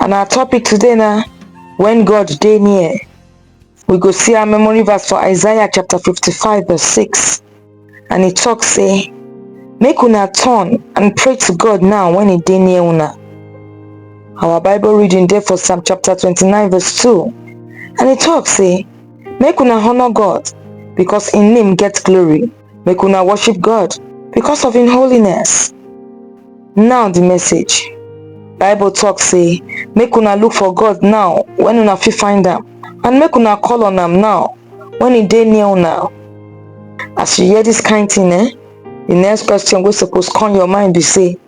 And our topic today na when God dey near. We go see our memory verse for Isaiah chapter 55 verse 6 and e talk say make una turn and pray to God now when e dey near una. Our Bible reading dey for Psalm chapter 29 verse 2 and e talk say make una honour God because im name get glory. Make una worship God because of im holiness. Now the message. Bible talk say, make una look for God now when una fit find am and make una call on am now when e dey near una. As you hear this kind thing eh, the next question wey suppose come your mind be say,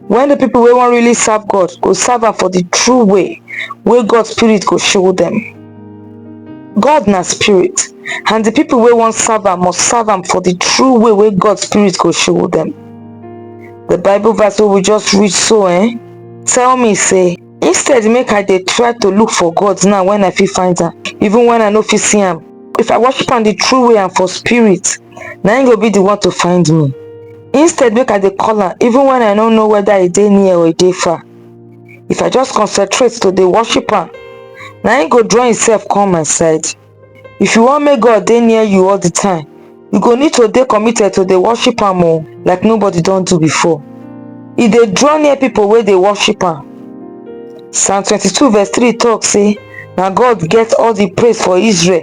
When the people wey wan really serve God go serve am for the true way wey God spirit go show them. God na spirit and the people wey wan serve am must serve am for the true way wey God spirit go show them. The Bible verse wey we just read so eh, tell me say instead make I dey try to look for God now when I fit find am even when I no fit see am if I worship am the true way and for spirit na him go be the one to find me instead make i dey call am even when i no know whether e dey near or e dey far if i just concentrate to dey worship am na him go draw himself come my side if you wan make god dey near you all the time you go need to dey committed to dey worship am o like nobody don do before e dey draw near people wey dey worship am psalm 22 verse 3 talk say na god get all the praise for israel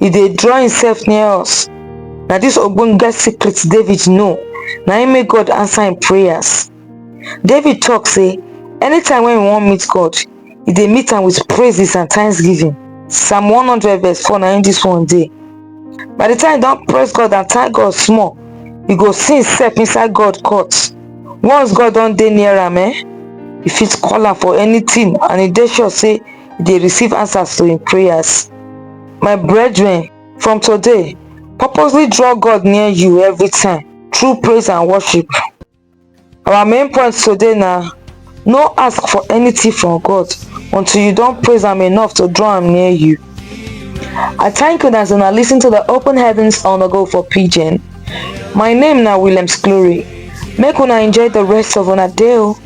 e dey draw himself near us na this ogbonge secret david know na him make god answer him prayers david talk say anytime when he wan meet god he dey meet am with praises and thanksgiving psalm 100 verse 4 na him this one dey by the time you don praise god and thank god small you go see himself inside god court once god don dey near am eh you fit call am for anything and e dey sure say dey receive answers to im prayers. My brethren, from today, purposely draw God near you every time through praise and worship. Our main point today na no ask for anything from God until you don praise am enough to draw am near you. I thank una as una lis ten to the Open Heavens on the Go for Pidgin. My name na Williams Glory. Make una enjoy the rest of una day o.